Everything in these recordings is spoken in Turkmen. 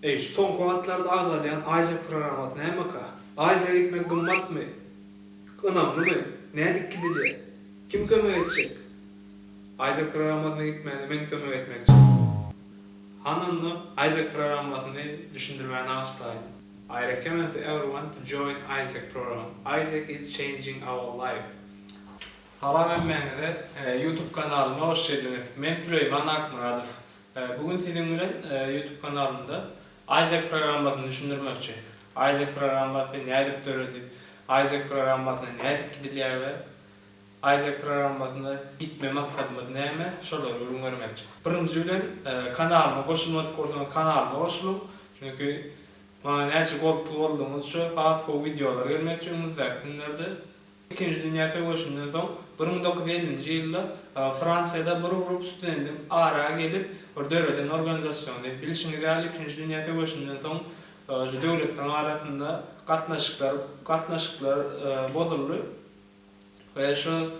Eý, şu soňky wagtlarda agzalýan Aziýa programmasy nämeka? Aziýa gitmek gymmatmy? Ynamlymy? Nädip gidilýär? Kim kömek etjek? Aziýa programmasyna gitmäne men kömek etmekçi. Han onda Aziýa programmasyny düşündirmäni aşlaýyn. I recommend to everyone to join Aziýa program. Aziýa is changing our life. Salam hemmäňize YouTube kanalyma hoş geldiňiz. Men Süleýman Akmyradow. Bu gün siziň bilen YouTube kanalymda Aýzek programmasyny düşündirmekçi. Aýzek programmasy nädip döredi, Aýzek programmasyna nädip gidilýär we Aýzek programmasyna gitme maksadymyz näme, şolary gürrüň bermekçi. Birinji bilen kanalyma goşulmadyk bolsaňyz kanalyma goşulyň. Çünki maňa näçe goldly boldugyňyzça has gowy wideolar gelmekçi öňümizdäki günlerde. Ikinji dünýä söweşinden soň bir müň dokuz ýüz ellinji ýylda Fransiýada bir grup studendiň ara gelip bir döreden organizasiony. Bilşiňiz ýaly ikinji dünýä söweşinden soň şu döwletleriň arasynda gatnaşyklar gatnaşyklar bozuldy we şu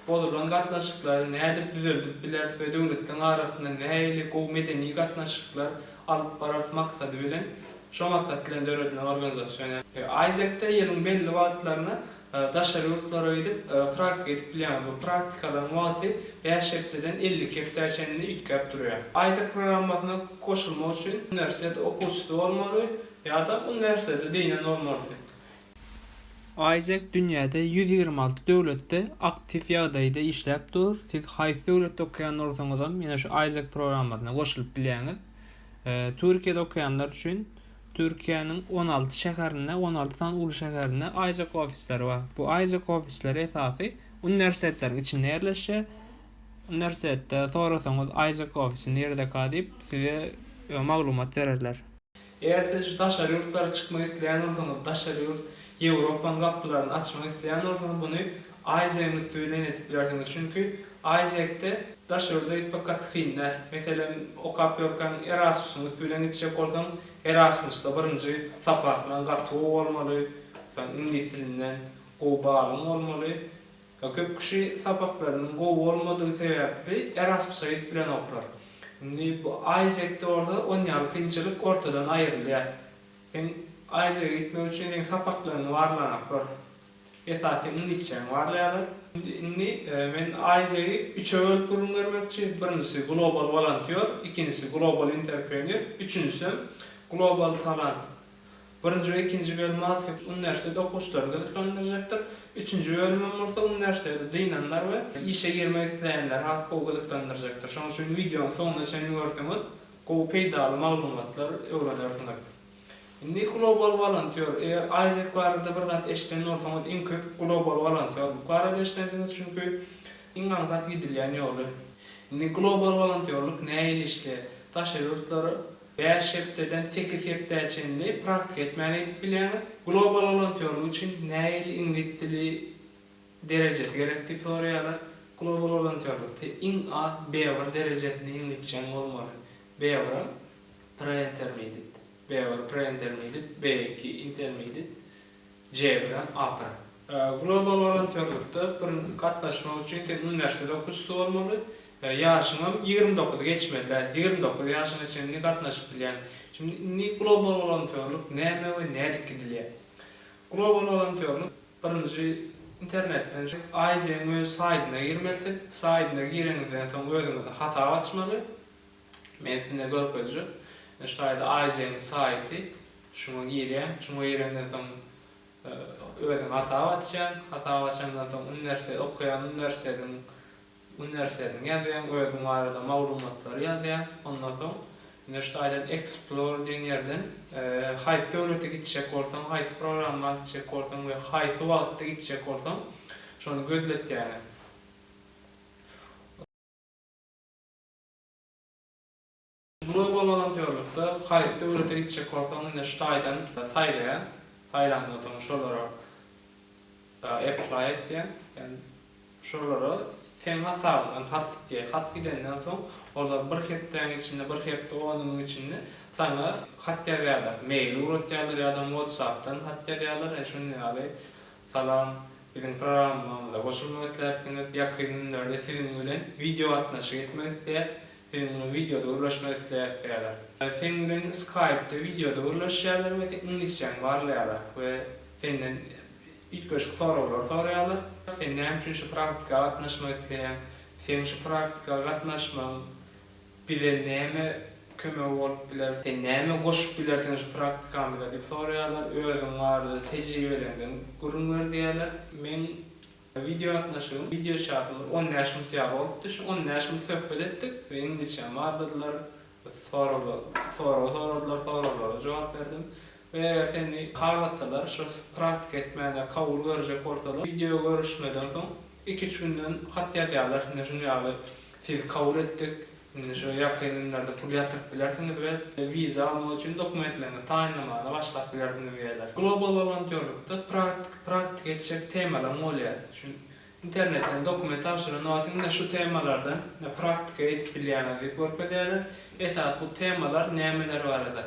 Bozulan gatnaşyklary nädip düzeldip bileris we döwletleriň arasynda nähili gowy medeni gatnaşyklar alyp bararys maksady bilen, şo maksat bilen döredilen organizasion. AIESEC-de ýylyň belli wagtlarynda daşary ýurtlara gidip, praktika edip bilýäňiz. Bu praktikalaryň wagty bäş hepdeden elli iki hepdä çenli üýtgäp durýar. AIESEC programmasyna goşulmak üçin uniwersitet okuwçysy bolmaly ýa-da uniwersitete degnen bolmalysyň. Isaac dünýäde ýüz ýigrimi alty döwletde aktiw ýagdaýda işläp dur. Siz haýsy döwletde okaýan bolsaňyzam, ýene şu Isaac programmasyna goşulyp bilýäňiz. E, Türkiýede okaýanlar üçin Türkiýäniň on alty şäherinde, on alty sany uly şäherinde Isaac ofisleri bar. Bu Isaac ofisleri esasy uniwersitetleriň içinde ýerleşýär. Uniwersitetde sorasaňyz Isaac ofisi nirede ka diýip, size e, maglumat bererler. Eger siz şu daşary ýurtlara çykmak isleýän bolsaňyz, daşary ýurt, Ýewropanyň gapylaryny açmak isleýän bolsaňyz muny Aýjegiň üsti bilen edip bilersiňiz. Çünki Aýjekde daş ýurda gitmek gaty kyn däl. Meselem, okap ýörkäň Erasmusyň üsti bilen gitjek bolsaň, Erasmusda birinji sapakdan gaty gowy bolmaly, soň iňlis dilinden gowy balygyň bolmaly, Köp kişi sapaklarynyň gowy bolmadygy sebäpli Erasmusa gidip bilenoklar. Indi bu Aýzekde bolsa on ýaly kynçylyk ortadan aýrylýar. Seň Aýzege gitmek üçin seň sapaklaryňy barlanaklar. Esasy seň iňlisçäňi barlaýarlar. Indi men Aýzegi üçe bölüp gürrüň bermekçi. Birinjisi global wolontýor, ikinjisi global interprenýor, üçünjisem global talant. Birinji we ikinji bölüm Maskit uniwersiteti okuwçylaryny gyzyklandyrjakdyr. Üçünji bölümem bolsa uniwersiteti dynanlar we işe girmek isleýänleri has gowy gyzyklandyrjakdyr. Şonuň üçin wideonyň soňuna çenli görseňiz, gowy peýdaly maglumatlar öwrenersiňiz. Indi global wolontýor. Eger Aýzek barada bir zat eşiden bolsaňyz, iň köp global wolontýorlyk barada eşidensiňiz, çünki iň aňsat gidilýän ýoly. Indi global wolontýorlyk nähili işleýär? Daşary ýurtlara Bäş hepdeden sekiz hepdä çenli praktika etmän edip bilýäňiz. Global wolontýorlyk üçin nähili iňlis dili derejesi gerek diýip soraýarlar. Global wolontýorlykda iň az B-bir derejesinde iňlisçäň bolmaly. B-bir hem Pre-intermedit, B-bir Pre-intermedit, B-iki Intermedit. Jebire ahyry. Global wolontýorlykda bir gatnaşmak üçin sen uniwersitet okuwçysy bolmaly, ýaşyňam ýigrimi dokuzy geçmeli däl. Ýigrimi dokuz ýaşyňa çenli gatnaşyp bilýän. Şimdi indi global wolontýorlyk näme we nädip gidilýär? Global wolontýorlyk birinji internetden şu AIJ-niň öz saýdyna girmeli siz. Saýdyna gireňizden soň özüňize hasap açmaly. Men size görkezjek. Ine şu taýda Aýjegiň saýty. Şuňa girýän. Şuňa girenden soň özüň hasap açýaň. Hasap açandan soň uniwersitet okaýan uniwersitetiň uniwersitetiňi ýazýaň. Özüň barada maglumatlary ýazýaň. Ondan soň ine şu taýdan Explore diýen ýerden haýsy döwlete gitjek bolsaň, haýsy programma gitjek bolsaň we haýsy wagtda gitjek bolsaň şony gözletýäňiz. Global wolontýorlykda haýsy döwlete gitjek bolsaň indi şu taýdan saýlaýa, saýlandan soň şolara apply et diýen, ýagny şolara seň hasabyňdan hat gidýär, hat gidenden soň olar bir hepdäň içinde, bir hepde on günüň içinde saňa hat ýazýarlar, mail ugratýarlar ýa-da whatsappdan hat ýazýarlar, indi şunuň ýaly Salam. Biziň programmamyza goşulmak isläpsiňiz. Ýakyn günlerde siziň bilen wideo gatnaşyk etmek isleýäs. Siziň bilen wideoda gürleşmek isleýäs diýýärler. Seň bilen Skype-da wideoda gürleşýärler we seň iňlisçäňi barlaýarlar we senden üýtgeşik soraglar soraýarlar. Sen näme üçin şu praktika gatnaşmak isleýäň? Seň şu praktika gatnaşmagyň Bize näme kömegi bolup biler? Sen näme goşup bilersiň şu praktikamyza? diýip soraýarlar. Özüň barada tejribeleriňden gürrüň ber diýýärler. Meň wideogatnaşygym, wideoçatyň bir on bäş minut ýaly bolupdy. Şu on bäş minut söhbet etdik we iňlisçäm barladylar. Sorag soradylar, soraglara jogap berdim. Eger seni halatdalar şu praktika etmäne kabul görjek bolsalar wideo görüşmeden soň iki üç günden hat ýazýarlar indi şuny ýaly sizi kabul etdik indi şu ýakyn günlerde pul ýatyryp bilersiňiz we wiza almak üçin dokumentleriňizi taýynlamagyna başlap bilersiňiz diýýärler. Global wolontýorlykda praktika etjek temalaryň bolýar. Şu internetden dokument tabşyran wagtyň ine şu temalardan ine praktika edip bilýäňiz diýip görkezýärler. Esas bu temalar nämeler barada.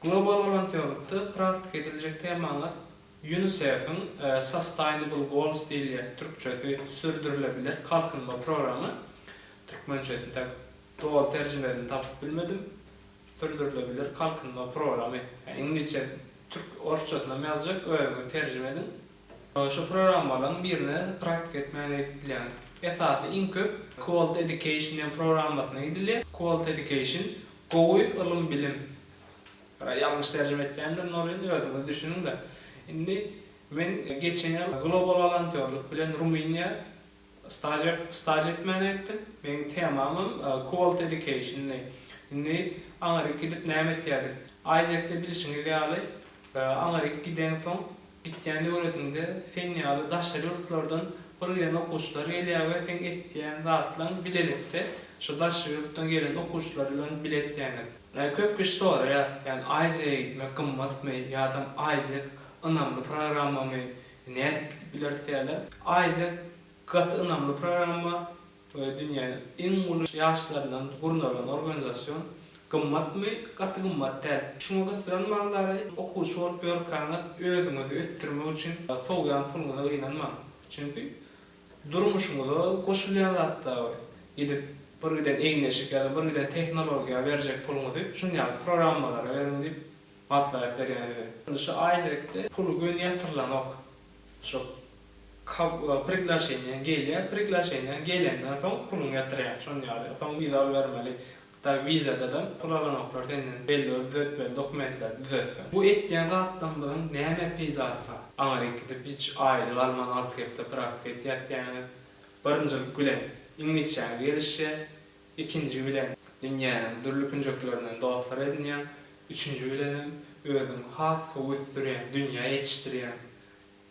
Global wolontýorlykda praktika ediljek temalar Ýunisef-iň Sustainable Goals diýilýän, türkçesi, Sürdürilebilir kalkynma programy, türkmençesini tä doly terjimesini tapyp bilmedim, Sürdürilebilir kalkynma programy, iňlisçe, türk, orsçasynam ýazjak, özüňiz terjime ediň. Şu programmalaryň birine praktika etmäge gidip bilýäň. Esasy iň köp Quality Education diýen programmasyna gidilýär. Quality Education, Gowy ylym bilim. Bira ýalňyş terjime etýändirin ol indi özüňiz düşüniňda. Indi men geçen ýyl global wolontýorlyk bilen Rumyniýa stažer staž etmäne gitdim. Meniň temamam Quality Educationdy. Indi aňryk gidip näme etýärdik? Aýzekde bilşiňiz ýaly aňryk gideňsoň, Etýän döwletiňde sen ýaly daşary ýurtlardan pul iýen okuwçylar gelýär we seň etýän zatlaň bilelikde şo daşary ýurtdan gelen okuwçylar bilen bile etýäňiz. Ýa köp kişi soraýar, ýani Aziýa gitmek gymmatmy ýadam Aziýa ynamly programmamy, nädip gidip bileris diýýärler. Aziýa gaty ynamly programma, Toýa dünýäniň iň uly ýaşlaryndan gurnalan organizasion gymmatmy, gaty gymmat däl. Şuňa gysylan magdary okuwçy bolup ýörkäňiz özüňizi ösdürmek üçin sowýan puluňyza gynanmaň. Çünki durmuşyňyza goşulýan zat da bu. Gidip bir giden egin-eşik ýa-da bir giden tehnologiýa berjek puluňyzy şun ýaly programmalara beriň diýip maslahat berýän size. Indi şu Aýjekde puly göni ýatyrylanok. Şol priglaşeniýa gelýär, priglaşeniýa gelenden soň puluňy ýatyrýaň, şon ýaly. Soň wiza alybermeli. Hytaý wizada-da pul alanoklar senden, belli bir düzetmeli dokumentleri düzetseň. Bu etýän zatlarymyzyň näme peýdasy bar? Aňry gidip hiç aýly galman alty hepde praktika etýäs diýýäňiz. Birinjilik bilen iňlisçäňiz gelişýär. Ikinji bilen dünýäniň dürli künjeklerinden dostlar edinýäň, üçünji bilenem özüň has köp ösdürýän dünýä ýetişdirýäň.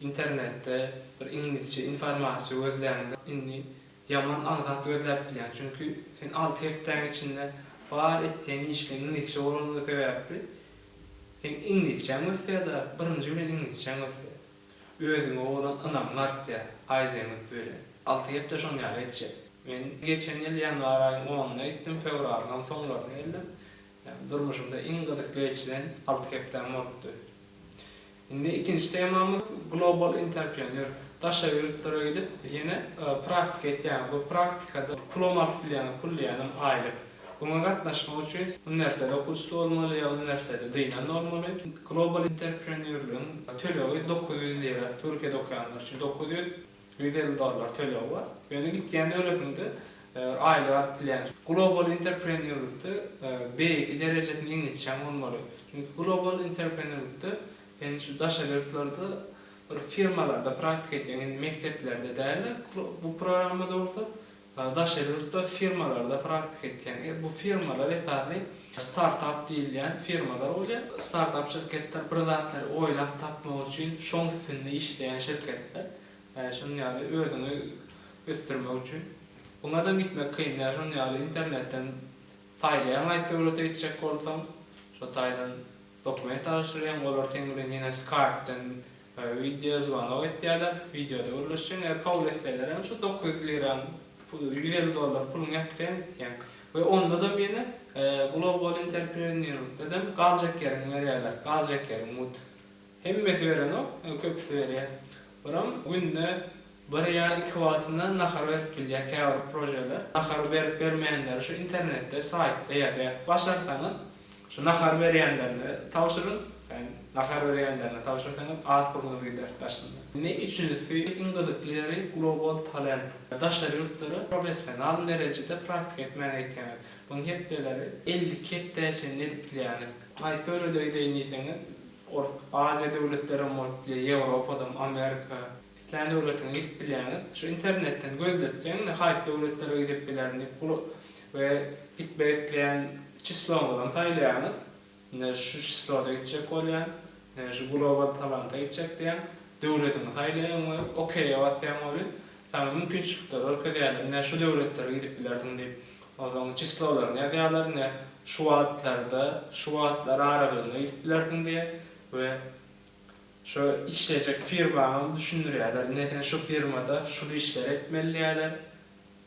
Internetde bir iňlisçe informasiýa gözläňde indi ýaman az zat gözläp bilýäň, çünki sen alty hepdäň içinde bar etýän işleň iňlisçe bolanlygy sebäpli seň iňlisçäň ösýär-de, birinji bilen iňlisçäň ösýär. Özüňe bolan ynamyň artýar, aýjeň üns berýär. Alty hepde şoň ýaly geçýär. Men geçen ýyl ýanwar aýyň onunda gitdim, fewralyňam soňlaryna geldim. Ýagny durmuşymda iň gyzyk geçilen alty hepdäm bolupdy. Indi ikinji temamyz global interprenýor. Daşary ýurtlara gidip, ýene praktika etýäňiz. Bu praktikada pulam alyp bilýäňiz, pul diýýänem aýlyk. Oňa gatnaşmak üçin uniwersitet okuwçysy bolmaly ýa uniwersiteti dynan bolmaly. Global interprenýurlygyň tölegi dokuz ýüz lira, Türkiýede okaýanlar üçin dokuz ýüz, ýüz elli dollar tölegi bar. Ýöne gitýän döwletiňde aýlyk alyp bilýän. Global interprenýurlykda beýleki derejesini iňlisçäň bolmaly. Çünki global interprenýurlykda sen şu daşary ýurtlarda bir firmalarda praktika edýäň, indi mekdeplerde däl-de. Bu programmada bolsa Daşary ýurtda firmalarda praktika etseň, bu firmalar esasy startap diýilýän firmalar bolýar. Startap şirketler bir zatlary oýlap tapmak üçin şoň üstünde işleýän şirketler. Şunuň ýaly özüňi ösdürmek üçin. Buňadam gitmek kyn. Ýa şunuň ýaly internetden saýlaýaň aýt döwlete gitjek bolsaň. Şo taýdan dokument tabşyrýaň, olar seň bilen ýene skaýpdan Wideo zwanok etýäler, wideoda gürleşýäň, eger kabul etselerem şu dokuz ýüz liraň, ýüz elli dollar puluňy ýatyrýaň gitýäň we ondadam ýene global interprenýerlikdedem galjak ýeriňi berýäler, galjak ýeriň mut. Hemmesi berenok, köpüsi berýär. Olam günde Bir ýa iki wagtyna nahar berip bilýär käbir projeler. Nahary berip bermeýänleri şu internetde, saýtda ýazýar. Başarsaňyz şu nahar berýänlerine tabşyryň. Sen nahar berýänlerine tabşyrsaňyz at burnuňyz gider daşynda. Indi üçünjisi iň gyzykly ýeri global talent. Daşary ýurtlara professional derejede praktika etmäni gitýäňiz. Buň hepdeleri elli iki hepdä çenli edip bilýäňiz. Haýsy ülede gideýin diýseňiz, ol Aziýa döwletlerem bolup bilýär, Ýewropadam, Amerika. Islän döwletiňe gidip bilýäňiz. Şu internetden gözletjeň indi haýsy döwletlere gidip bilerin diýip bul we gitmek isleýän çisloňyzam saýlaýaňyz. Indi şu çisloda gitjek bolýan. Indi şu global talanta gitjek diýýäň. Döwletiňi saýlaýaň we okeýe basýaň weli saňa mümkinçilikleri görkezýärler. Ine şu döwletlere gidip bilersiň diýip. Onsoň çislolaryny ýazýarlar ine şu wagtlarda şu wagtlar aralygynda gidip bilersiň diýe we Şu işlejek firmany düşündirýärler. Ine sen şu firmada şul işleri etmeli diýýärler.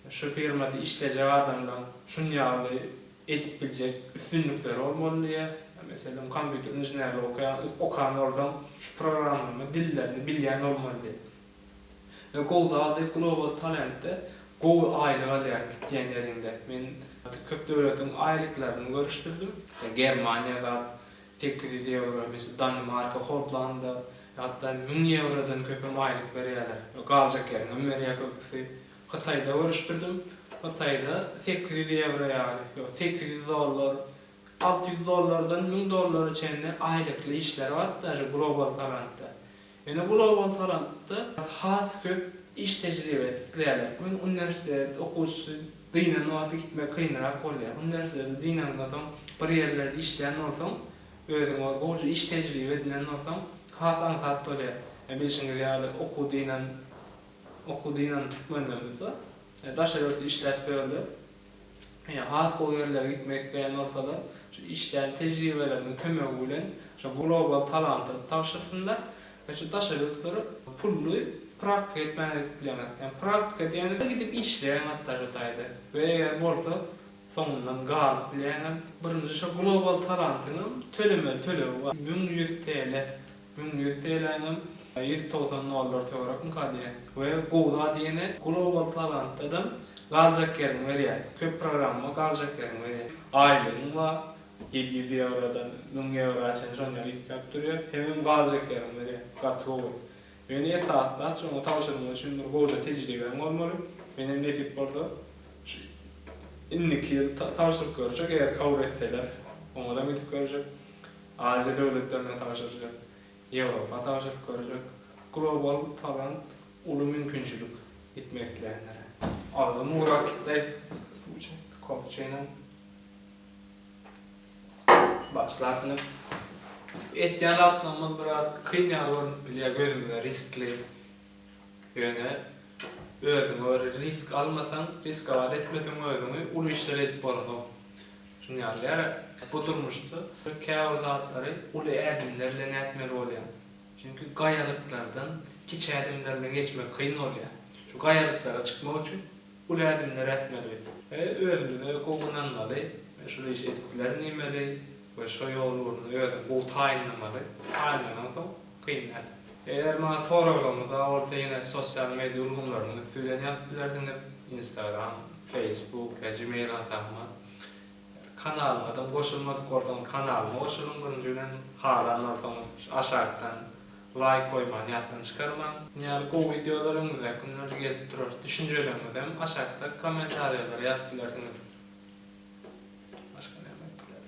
Şu firmada işlejek adamlaň şunýaly edip biljek üstünlikleri bolmaly diýýär. Meselem, kompýuter inženerligi okaýan okan bolsaň, şu programlama dillerini bilýän bolmaly diýýär. We gowy zady Global Talentde gowy aýlyk alýaň gitýän ýeriňde. Men köp döwletiň aýlyklaryny görüşdirdim. Germaniýa zat Sekiz ýüz ýewro, biz Danimarka, Hollanda, hatda müň ýewrodan köpem aýlyk berýärler. Galjak ýeriňem berýär köpüsi. Hytaýda görüşdirdim. Hytaýda sekiz ýüz ýewro ýaly, ýok, sekiz ýüz dollar, alty ýüz dollardan müň dollara çenli aýlykly işler bar-da, şu global forantda. Ýöne bu lowha salanypda has köp iş tejribesi isleýärler. Bu gün uniwersitet okuwçysy dynan wagty gitmek kynrak bolýar. Uniwersitetde dynandan soň bir ýerlerde işleýän bolsaň, özüň ol gowja iş tejribe edinen bolsaň, has aňsat bolýar. Ýa bilşiňiz ýaly okuw dynan okuw dynan türkmenlerimiz bar. Daşary ýurtda işläp ýörler. ýa has gowy ýerlere gitmek isleýän bolsalar, şu işlän tejribeleriniň kömegi bilen şu global talanty tabşyrsynlar we şu daşary ýurtlara pully praktika etmäge gidip bileňiz. Ýa praktika diýende gidip işleýäň hatda şu taýda we eger bolsa soňundan galyp bileýäňem. Birinji şu global talantyňam tölemeli tölegi bar. Müň ýüz TL. Müň ýüz TL'ňem ýüz togsan dollar töwerekmika diýýä. We gowy zat ýene Global Talantdadam galjak ýeriň berýär. Köp programma galjak ýeriň berýär. Aýlygyň bar, ýedi ýüz ýewrodan müň ýewroa çenli şonuň ýaly üýtgäp durýar. Hemem galjak ýeriň berýär. Gaty gowy. Ýöne esasy zat şoňa tabşyrmak üçin bir gowja tejribeň bolmaly. Menem nesip bolsa şu indiki ýyl tabşyryp görjek eger kabul etseler. Oňada gidip görjek. Aziýa döwletlerine tabşyrjak, Ýewropa tabşyryp görjek, global talant uly mümkinçilik gitmek isleýänlere. Agzym gurak kitay suw çekdi kofe çeýnäň. Başlap bilen etýän zatlarymyz biraz kyn ýaly görünip bilýär gözümize riskli. Ýöne özüňe göre risk almasaň, riskowat etmeseň özüňi, uly işler edip bolanok. Şuny ýatlary, bu durmuşda käbir zatlary uly ädimler bilen ätmeli bolýar. Çünki gaýalyklardan kiçi ädimler bilen geçmek kyn bolýar. Şu gaýalyklara çykmak üçin uly ädimler ätmeli biz. We özümize gowy ynanmaly, men şul işi edip bilerin diýmeli we şo ýol ugrunda özüňi gowy taýynlamaly. Taýynlanansoň. Kyn däl. Eger maňa soraglaryňyz bar bolsa ýene sosial media ulgamlarynyň üsti bilen ýazyp bilersiňiz, Instagram, Facebook ýa Gmail hasabyma. Kanalymadam goşulmadyk bolsaňyz kanalyma goşulyň birinji bilen, halan bolsaňyz şu aşakdan laýk goýmany ýatdan çykarmaň. Muny ýaly gowy wideolar öňümizdäki günlerde gelip durar. Düşünjeleriňizem aşakda kommentariýalara ýazyp bilersiňiz. Başga näme aýtmaly?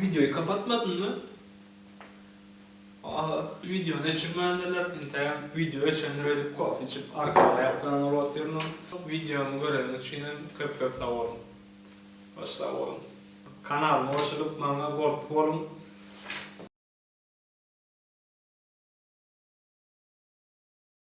Wideoýy kapatmadynmy? Aga wideony öçürmändirler, entägem wideo öçendir öýdüp kofe içip arkaly aýakdan ugur otyryn. Wideomy göreniň üçinem köp köp sag boluň. Goş sag boluň. Kanalyma goşulyp maňa gold boluň.